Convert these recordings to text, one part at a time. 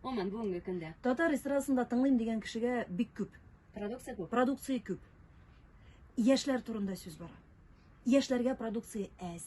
Гомумән, бүгенге көндә. Татар эстрадасында тыңлыйм дигән кешегә бик күп. Продукция күп. Продукция күп. Яшьләр турында сүз бара. Яшьләргә продукция әз.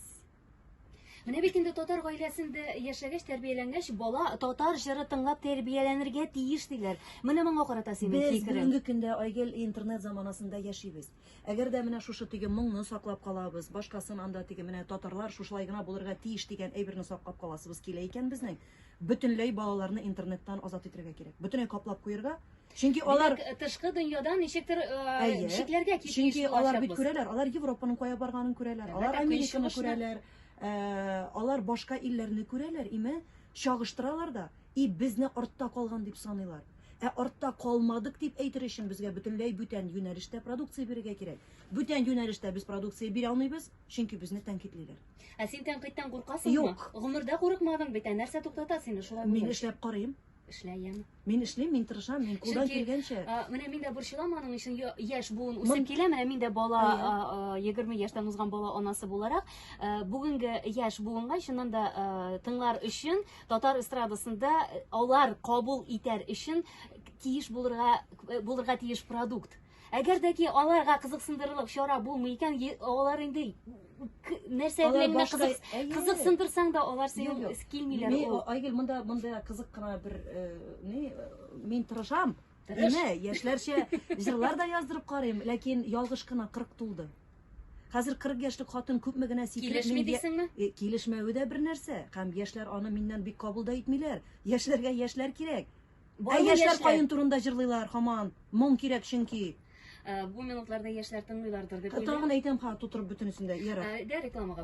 Менә бит инде татар гаиләсендә яшәгәч, тәрбияләнгәч, бала татар җыры тыңлап тәрбияләнергә тиеш диләр. Менә моңа карата синең фикерең. Без бүгенге көндә Айгел интернет заманасында яшибез. Әгәр дә менә шушы теге моңны саклап калабыз, башкасын анда теге менә татарлар шушылай гына булырга тиеш дигән әйберне саклап каласыбыз килә икән безнең, бөтенләй балаларны интернеттан азат итәргә кирәк. Бөтенләй каплап куерга. Чөнки алар Димәк, э, тышкы дөньядан ничектер э, Әйе. чикләргә китмеш Чөнки алар бит булачакбыз. күрәләр, алар Европаның кая барганын күрәләр, алар Әлбәттә, Американы көнчыгышны. күрәләр, э, алар башка илләрне күрәләр, име, чагыштыралар да. и безне артта калган дип саныйлар. Ә артта калмадык дип әйтер өчен безгә бөтенләй бүтән юнәлештә продукция бирергә кирәк. Бүтән юнәлештә без продукция бирә алмыйбыз, чөнки безне тәнкыйтьлиләр. Ә син тәнкыйтьтән куркасыңмы? Юк. Гомердә курыкмадың бит, ә нәрсә туктата сине шулай Мин булгач? эшләп карыйм. Эшләем. Мин эшлим, мин тырышам, мин кулдан Чөнки, килгәнчә. а, менә мин дә борчылам аның өчен я- яшь буын үсеп Мон- килә, менә мин дә бала, Әйе. а, а, 20 яшьтән узган бала анасы буларак, а, бүгенге яшь буынга чыннан да а, тыңлар өчен Татар эстрадасында э, алар кабул итәр өчен тиеш булырга э, булырга тиеш продукт. Әгәр дә ки аларга кызыксындырырлык чара булмый икән, алар инде нәрсә белән кызык кызыксындырсаң да алар сиңа килмиләр. Мин Айгөл монда монда кызык кына бер э, ни мин тырышам. Әмма яшьләрчә җырлар да яздырып карыйм, ләкин ялгыш кына 40 тулды. Хәзер 40 яшьлек хатын күпме генә сикереп Килешми мин я- дисеңме? Э, Килешмәве дә бер нәрсә. Һәм яшьләр аны миннән бик кабул да итмиләр. Яшьләргә яшьләр кирәк. Ә Барлы яшьләр яшьләр. каен турында җырлыйлар һаман. Моң кирәк чөнки. Ә, Бу минутларда яшьләр тыңлыйлардыр дип Тагын уйлыйм. әйтәм, ха, тутырып бөтенесен дә. Ярар. Ә, Дә рекламага